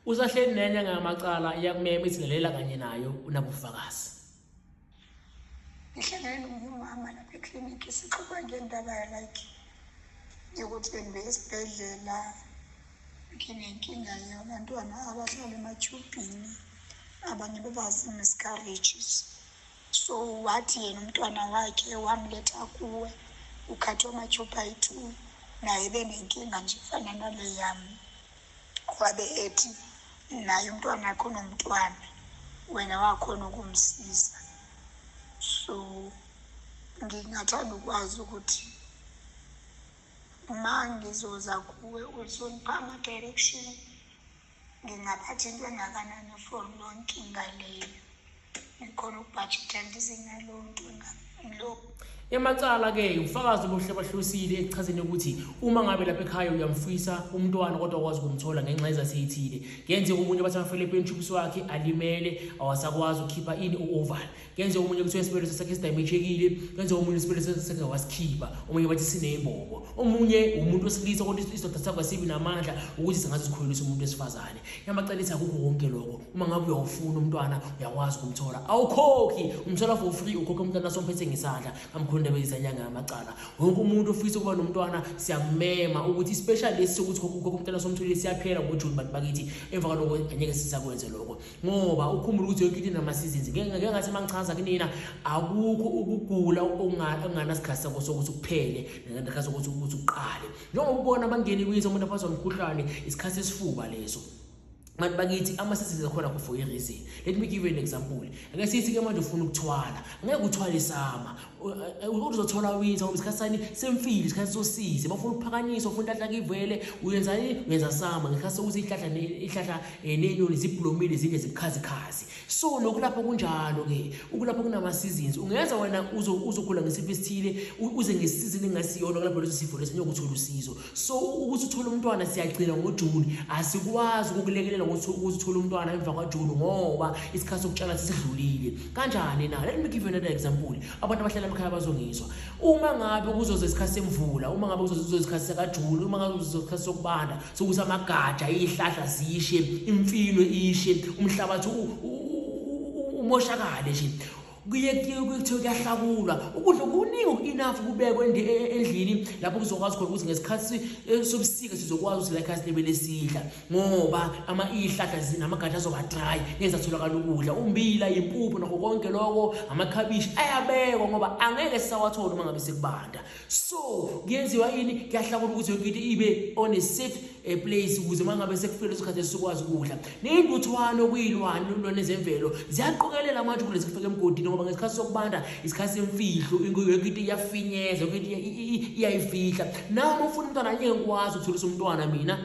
Usahleli nenye ngamacala iyakumema izingelela kanye nayo unabufakazi. Ngihlangene nomama lapha eclinic sixoxa ngendaba like yokuthi bengibe esibhedlela nginenkinga yabantwana abahlala ematshubhini abanye bebazi miscarriages so wathi yena umntwana wakhe wamletha kuwe ukhathwa amatshubha ayi-two naye benenkinga nje fana nale yami wabe ethi naye umntwana wakho nomntwana wena wakhona ukumsiza so ngingathanda ukwazi ukuthi uma ngizoza kuwe uzongipha ama-direction ngingaphatha into engakanani for lonkinga leyo ikhona ukubhajithela izingalonto lokhu emacala ke ufakazi obuhle bahlusile ekuchazeni ukuthi uma ngabe lapha ekhaya uyamfisa umntwana kodwa kwazi ukumthola ngenxa ezaseyithile ngenze omunye bathi afele epentshubisi wakhe alimele awasakwazi ukukhipha ini u-oval ngenze omunye kuthiwa isibeleso sakhe sidayimejekile ngenze omunye isibeleso sakhe wasikhipha omunye bathi sineyimbobo omunye umuntu wesilisa kodwa isidoda sakho asibi namandla ukuthi singaze sikhulelise umuntu wesifazane yamacelisa kukho konke lokho uma ngabe uyawufuna umntwana uyakwazi ukumthola awukhokhi umthola for free ukhokhe umntwana somphethe ngesandla kamkhonde bezanyanga amacala wonke umuntu ofisa ukuba nomntwana siyamema ukuthi special lesi sokuthi ukhokhe umntwana somthole siyaphela ngojuni bantu bakithi emva kwaloko angeke sisakwenze lokho ngoba ukhumbula ukuthi yonke into inama seasons ngeke ngathi mangichaza kunina akukho ukugula okungana sikhathi sakho sokuthi kuphele ngenkathi sokuthi ukuthi uqale njengoba ubona bangeni kwizo umuntu aphazwa umkhuhlane isikhathi esifuba leso manje bakithi amasesisi akhona kho for a reason let me give you an example ake sithi ke manje ufuna ukuthwala ngeke uthwale isama uzothola winza ngoba isikhathi sani semfile isikhathi sosize bafuna ukuphakanyiswa ufuna inhlahla kivele uyenzani uyenza sama ngesikhathi sokuthi ihlahla ihlahla eh, nenyoni zibhlomile zinde zibukhazikhazi so lokhu lapho kunjalo ke ukulapho kunama seasons ungeza wena uzo uzogula ngesifo esithile uze ngesizini engasiyona kulapho leso sifo leso nyokuthola usizo so ukuthi uthole umntwana siyagcina ngoJune asikwazi ukukulekelela ukuthi uthole umntwana emva kwaJune ngoba isikhathi sokutshala sesidlulile kanjani na let me give you another example abantu abahlala emakhaya bazongizwa uma ngabe kuzoze isikhathi semvula uma ngabe kuzoze isikhathi sakaJune uma ngabe kuzoze isikhathi sokubanda sokuthi amagaja ihlahla zishe imfino ishe umhlabathi umoshakale nje kuye kuthiwe kuyahlakulwa ukudla kuningi oku-enough kubekwe e, e, endlini lapho kuzokwazi khona ukuthi ngesikhathi e, sobusika sizokwazi ukuthi like asinebele sidla ngoba ihlahla namagatsha azoba-dry ngeke zatholakala ukudla umbila impuphu nakho konke loko amakhabishi ayabekwa ngoba angeke sisawathola uma ngabe sekubanda so kuyenziwa yini kuyahlakula ukuthi yonke into ibe on a safe eh, place ukuze uma ngabe sekufele isikhathi esikwazi ukudla neyintuthwane okuyilwane lulwane zemvelo ziyaqokelela amanje kulezi kufika emgodini ngoba ngesikhathi sokubanda isikhathi semfihlo yonke into iyafinyeza yonke into iyayifihla nawe uma ufuna umntwana anyeke ngikwazi ukutholisa umntwana mina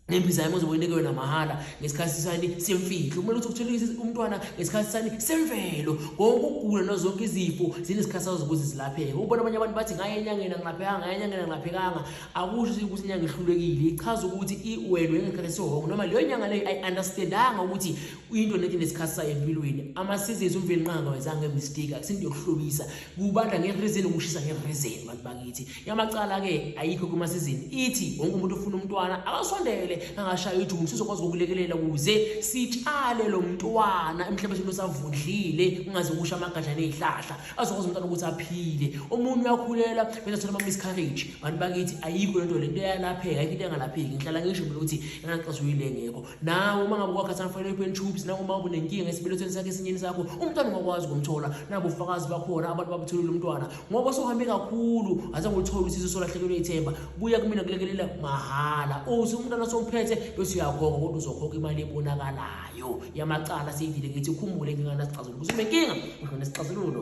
nembiza yami ozobe uyinikwe yona mahhala ngesikhathi sani semfihlo kumele ukuthi uthole umntwana ngesikhathi sani semvelo konke ukugula nozonke izifo zinesikhathi sazo zokuthi zilapheke ukubona abanye abantu bathi ngaye enyangeni angilaphekanga ngaye enyangeni angilaphekanga akusho ukuthi inyanga ihlulekile ichaza ukuthi iwelwe ngesikhathi sihongo noma leyo nyanga leyo ayi-understandanga ukuthi into nethi nesikhathi sayo empilweni ama-seasons umveli nqanga wenzanga ngemistake akusinto yokuhlobisa kubanda nge-reason ukushisa nge-reason bantu bakithi yamacala-ke ayikho kumasizini ithi wonke umuntu ofuna umntwana akasondele angashaya ujumu sizokwazi ukulekelela ukuze sitshale lo mntwana emhlabeshini osavundlile kungaze kusha amagaja nezihlahla azokwazi umntwana ukuthi aphile omunye uyakhulela bese thola ama-miscarriage bantu bakithi ayikho lento lento yalapheka ayikho into engalapheki ngihlala ngisho mina ukuthi engaqasuyile engekho nawe uma ngabe wakhathana kufanele uphele tubes nawe uma ubunenkinga esibelethweni sakhe esinyeni sakho umntwana ungakwazi ukumthola nabo ufakazi bakhona abantu babutholile umntwana ngoba sohambe kakhulu azange uthole usizo solahlekelwe ithemba buya kumina kulekelela mahhala uthi umntwana somphethe bese uyakhokha kodwa uzokhokha imali ebonakalayo yamacala siyidile ngithi ukhumbule inkinga nasixazululo kuthi unenkinga ukhona nesixazululo